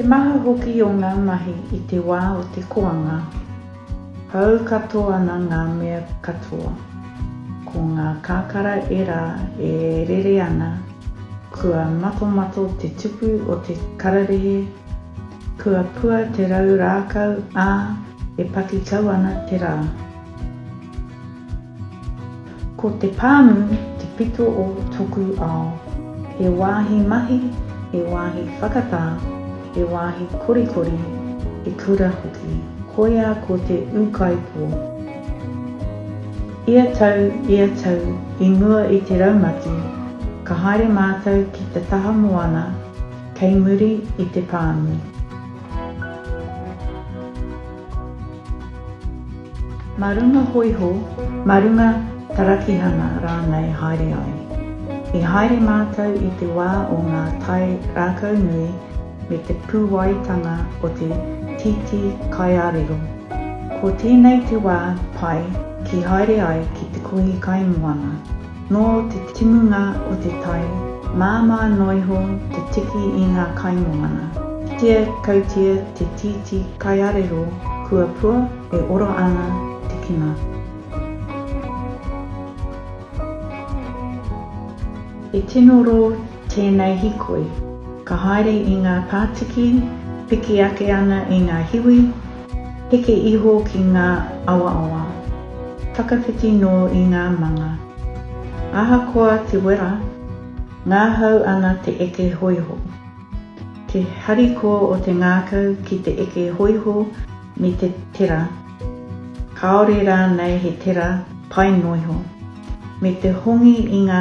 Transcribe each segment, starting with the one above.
Te maha hoki o ngā mahi i te wā o te koanga, pau katoa ana ngā mea katoa. Ko ngā kakara ērā e rere ana, kua matomato te tupu o te kararehe, kua pua te rau rākau, ā, e paki kau ana te rā. Ko te pāmu te pito o toku ao. He wāhi mahi, he wāhi whakatā, he wāhi korikori, he kura hoki. Koia ko te ūkaipō. Ia tau, ia tau, i mua i te raumati, ka haere mātou ki te taha moana kei muri i te pāmu. Mā runga hōiho, mā runga tarakihanga rānei haere ai. I haere mātou i te wā o ngā tae rākau nui me te pūwaitanga o te tītī kaiārero. Ko tēnei te wā pai ki haere ai ki te kohi kaimoana. Nō te timunga o te tai, māmā noa iho te tiki i ngā kaimoana. Kitea kautia te tītī kaiarero kua pua e oro ana te kino. He tino rō Tēnei hikoi, ka haere i ngā pātiki, piki ake ana i ngā hiwi, heke iho ki ngā awaawa, whakawhiti nō i ngā manga. Ahakoa te wera, ngahau ana te eke hoiho. Te hariko o te ngākau ki te eke hoiho me te tera, kāore rānei he tera pae noiho. Me te hongi i ngā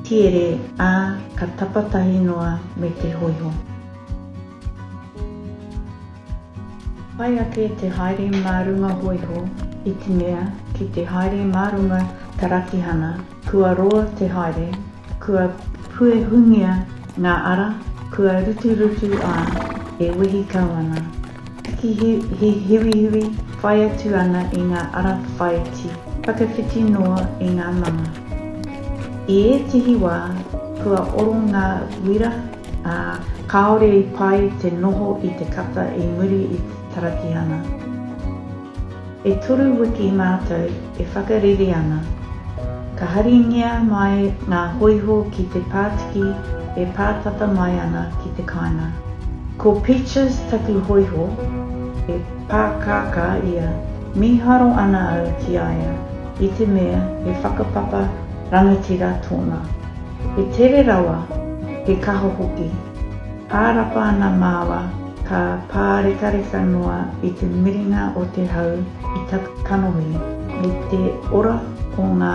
tiere, ā, ka tapatahi noa me te hoiho. Pai ake te haere mā runga hoiho, itimea ki te haere mā runga tarakihana, kua roa te haere, kua puehungia ngā ara, kua ruturutu ā, e wehi kau ana. He hiwihiwi whai atu ana i ngā ara whāiti whakawhiti noa i ngā manga. I ētehi wā, kua oro ngā wira, ā, kāore i pai te noho i te kata i muri i te taratihana. E toru wiki mātou e whakarere ana. Ka haringia mai ngā hōiho ki te pātiki e pātata mai ana ki te kāinga. Ko Peaches taku hōiho, e pākākā ia, mīharo ana au ki a ia i te mea he whakapapa rangatira tōna. He tere rawa, he kaha hoki. Ārapa ana māua Ka pārekareka noa i te miringa o te hau i tata kanohi, i te ora o ngā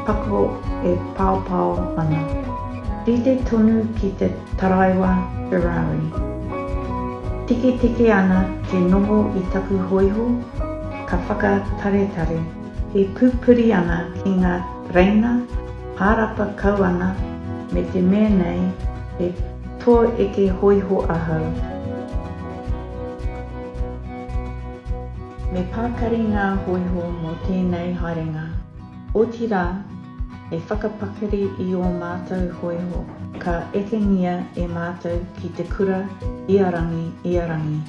pako e paopao ana. Rite tonu ki te taraiwa Ferrari. Tiketike ana te noho i taku hōiho, ka whakataretare. E pupuri ana ki ngā tereina, ārapa kau ana me te mea nei e. Tō eke hōiho ahau. Me pakari ngā hōiho mō tēnei haerenga. Otirā, me whakapakari i ō mātou hōiho ka ekengia e mātou ki te kura ia rangi, ia rangi.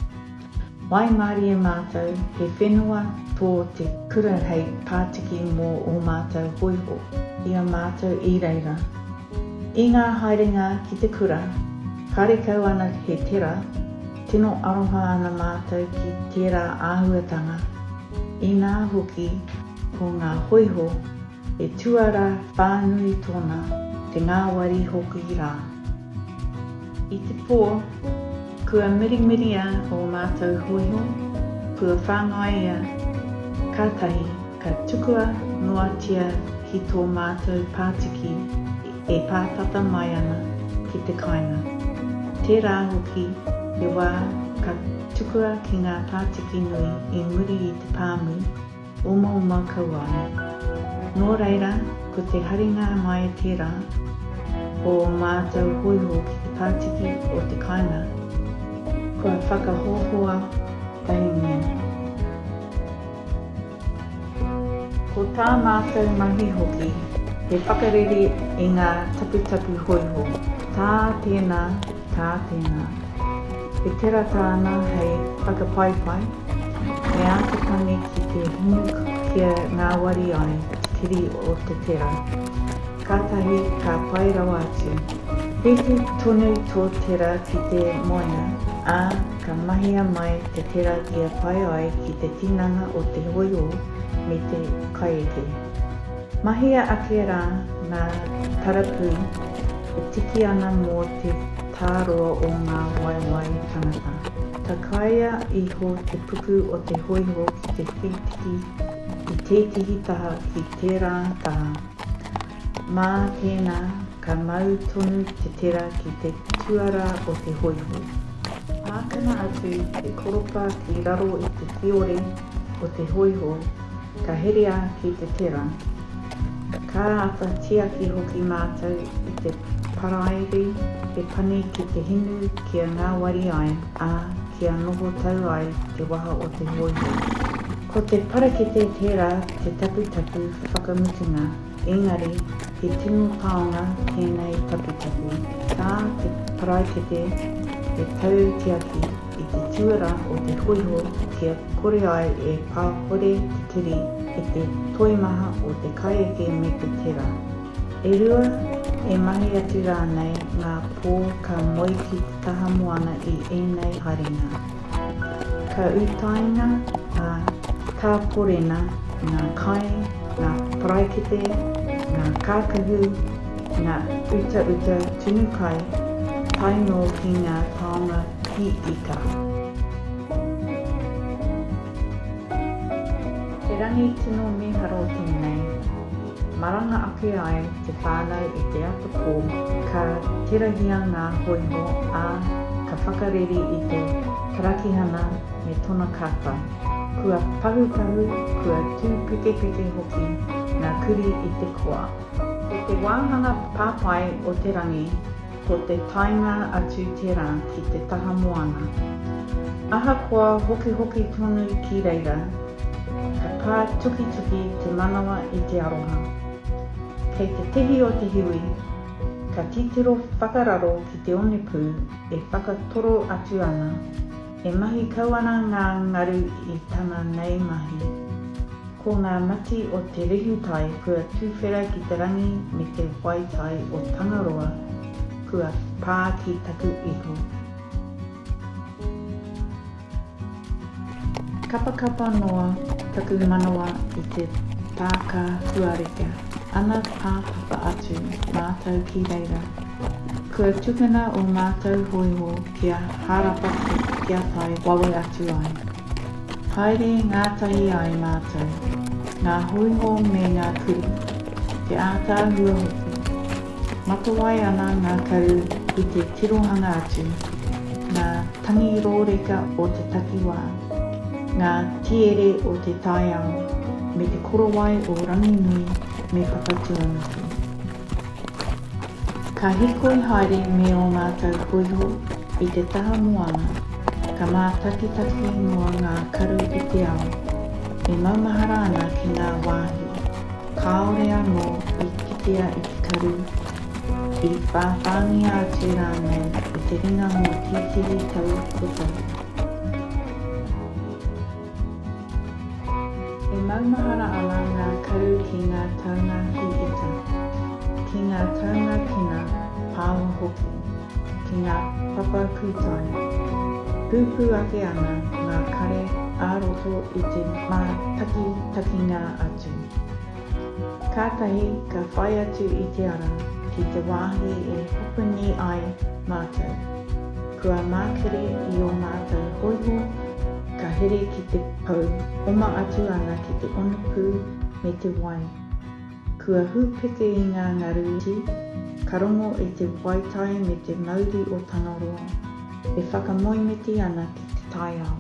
Waimarie mātou, he whenua tō te kura hei pātiki mō ō mātou hōiho i a mātou i reira. I ngā haerenga ki te kura, karekau ana he tera, tino aroha ana mātou ki tērā āhuatanga, inā hoki ko ngā hōiho, He tuara whānui tōna, te ngāwari hoki rā. I te pō, kua mirimiria ō mātou hōiho, kua whāngaia, kātahi ka tukua noatia ki tō mātou pātiki e pā tata mai ana ki te kāinga. Tērā hoki te wā ka tukua ki ngā pātiki nui i muri i te pāmu, Omaoma kau ai. Nō reira, ko te haringa mai tērā o ō mātou hōiho ki te pātiki o te kāinga, kua whakahohoa pahemia. Ko tā mātou mahi hoki he whakarere i ngā taputapu hōiho, tā tēnā Ā, tēnā. E tirata ana hei whakapaipai, me āta tangi ki te hinu kia ngāwari ai te kiri o te tera. Kātahi ka pai rawa atu. Whiti tonu tō tera ki te moenga, ā, ka mahia mai te tera kia pai ai ki te tinana o te hoiho me te kaieke. Mahia ake rā ngā tarapū e tiki ana mō te tāroa o ngā waewae tangata. Takaia iho te puku o te hōiho ki te whītiki i tētehi taha ki tērā taha. Mā tēnā ka mau tonu te tera ki te tuarā o te hōiho. Mātanga atu te koropa ki raro i te kiore o te hōiho Ka herea ki te tera. Ka āta tiaki hoki mātou i te paraire e pani ki te hinu kia ngāwari ai, ā, kia noho tau ai te waha o te hoihoi. Ko te parakete tera te taputapu whakamutunga, engari he tino taonga tēnei taputapu. Tā te paraikete e tau tiaki. i te tuera o te hōiho kia kore ai e pāhore te kiri e te toimaha o te kaieke me te tera. E rua, e mahi atu rānei ngā pō ka moe ki te taha moana i ēnei haringa. Ka utaina, ā, ka porena ngā kai, ngā paraikete, ngā kākahu, Ngā utauta tunu kai, tae noa ki ngā taonga ki ika. He rangi tino mīharo tēnei. Maranga ake ai te whānau i te atapō, ka terahia ngā hōiho, ā, ka whakareri i te karakihana me tona kapa. Kua pahupahu, kua tūpekepeke hoki ngā kuri i te koa. Ko te wāhanga papai o te rangi ko te taenga atu tērā ki te taha moana. Ahakoa hokihoki tonu ki reira, ka pā tukituki te manawa i te aroha. Kei te tihi o te hiwi, ka titiro whakararo ki te onepū e whakatoro atu ana. E mahi kau ana ngā ngaru i tana nei mahi. Ko ngā mati o te rehutai kua tuwhera ki te rangi me te waitai o Tangaroa kua pā ki taku iho. Kapakapa noa taku manawa i te tākā kua reka ana pāpapa atu mātou ki reira. Kua tukuna o mātou hōiho Kia harapaki, kia tae wawe atu ai. Haere ngātahi ai mātou, ngā hōiho me ngā kurī, te ātaahua hoki. Matawai ana ngā karu i te tirohanga atu, ngā tangi rōreka o te takiwā, ngā tiere o te taiao me te korowai o Ranginui me Papatūānuku. Ka hikoi haere me ō mātou hōiho i te taha moana, ka mātakitaki noa ngā karu i te ao, e maumahara ana ki ngā wāhi kāore anō i kitea e te karu, i whāwhāngia atu rānei i te ringa mō tētehi tau kotahi. E maumahara ana ngā karu ki ngā taunga hī ita, ki ngā taunga kina pāmu hoki, ki ngā papa kūtai. Pūpū ake ana ngā kare ā-roto i te mātakitakinga atu. Kātahi ka whai atu i te ara ki te wāhi e hopuni ai mātou. Kua mākiri i ō mātou hōiho, ka here ki te pou, oma atu ana ki te onupū me te wai. Kua hūpeke i ngā ngaru iti, ka rongo e te waitai me te mauri o Tangaroa, e whakamoemiti ana ki te taiao.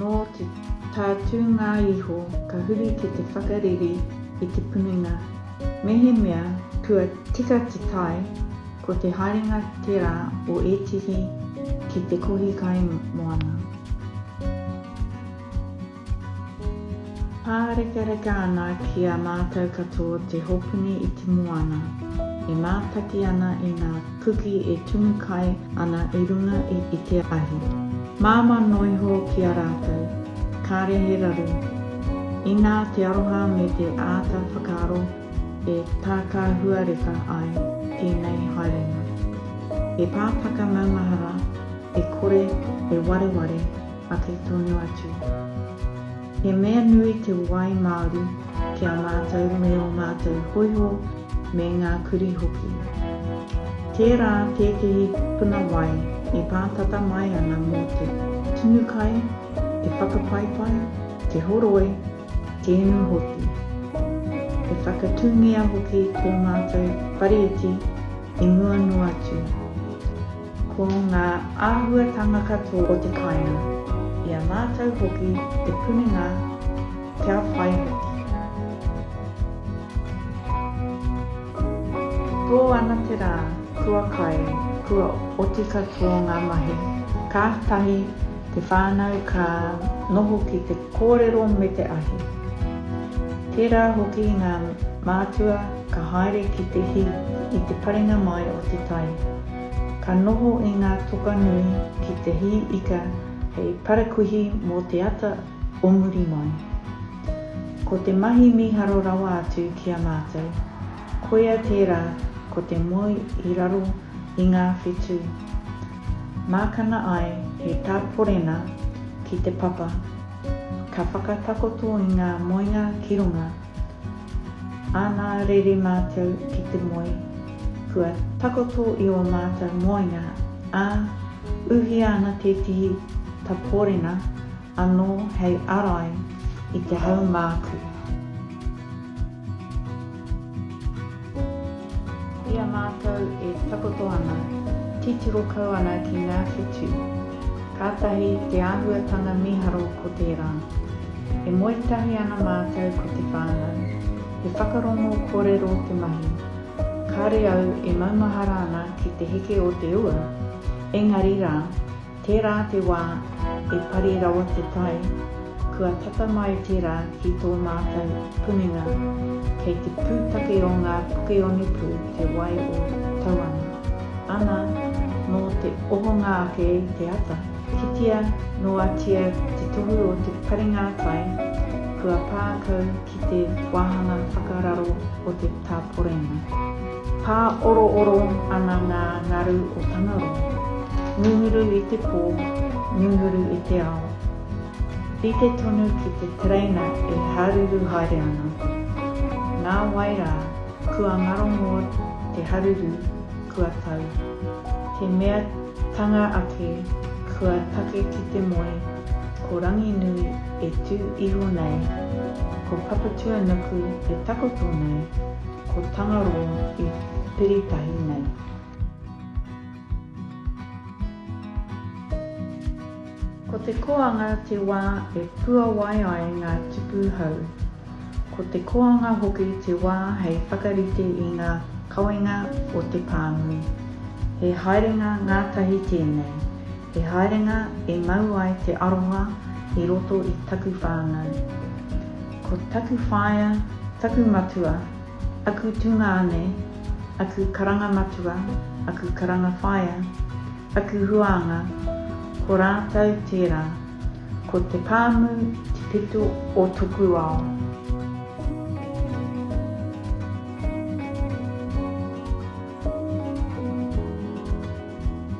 Nō te tātūnga iho ka huri ki te whakareri i te puninga. Mehemea kua tika te tae, ko te haerenga tērā o ētehi ki te kohi kai moana. Pārekareka ana ki a mātou katoa te hopuni i te moana, e mātaki ana i ngā. Kuki e tumu kai ana i runga i i te ahi. Māmā noa iho ki a rātou. Kāre he raru. Inā te aroha me te āta whakaaro e tākāhuareka ai tēnei haerenga. He pātaka maumahara e kore e wareware ake tonu atu. He mea nui te wai māori ki a mātou me ō mātou hōiho me ngā kurī hoki. Tērā tētehi puna wai e pātata mai ana mō te tunu kai, te whakapaipai, te horoi, te inu hoki. E whakatūngia hoki tō mātou whare iti i mua noa atu. Ko ngā āhuatanga katoa o te kāinga, i a mātou hoki te punenga kia whai hoki. Tō ana te rā, kua kai, kua oti katoa ngā mahi. Kātahi te whānau ka noho ki te kōrero me te ahi. Tērā hoki ngā mātua ka haere ki te hī i te parenga mai o te tai. Ka noho i ngā toka nui ki te hī ika hei parakuihi mō te ata o muri mai. Ko te mahi mīharo rawa atu ki a mātou, koia tērā ko te moe i raro i ngā whetū. Mākana ai he tāporena ki te papa, ka whakatakoto i ngā moenga ki runga, Ana rere mātou ki te moe, kua takoto i ō mātou moenga, ā, uhia ana tētehi tapōrena anō hei arai i te haumāku. I a mātou e takoto ana, titiro kau ana ki ngā whetū. Kātahi te āhuatanga mīharo ko tērā. E moe tahi ana mātou ko te whānau. He whakarongo kōrero te mahi. Kāre au e maumahara ana ki te heke o te ua, engari rā, Tērā te wā e pari rawa te tai, kua tata mai tērā ki tō mātou puninga kei te pūtake o ngā puke onepū te wai o Tauana. Ana, nō te ohonga ake i te ata, kitea noatia te tohu o te paringātai kua pā kau ki te wāhanga whakararo o te tāporenga. Pāorooro ana ngā ngaru o Tangaroa, ngunguru i te pō, ngunguru i te ao. Rite tonu ki te tereina e haruru haere ana. Nā wai rā, kua ngarongo te haruru, kua tau. He mea tanga ake, kua take ki te moe, Ko Ranginui e tū iho nei, ko Papatuanuku e takoto nei, ko Tangaroa e piri tahi nei. Ko te koanga te wā e puawai ai ngā tupu hou. Ko te koanga hoki te wā hei whakarite i ngā kawenga o te pānui. He haerenga ngātahi tēnei. He haerenga e mau ai te aroha i roto i taku whānau. Ko taku whaea, taku matua, aku tungāne, aku karanga matua, aku karanga whaea, aku huānga, ko rātou tērā. Ko te pāmu te peto o toku ao.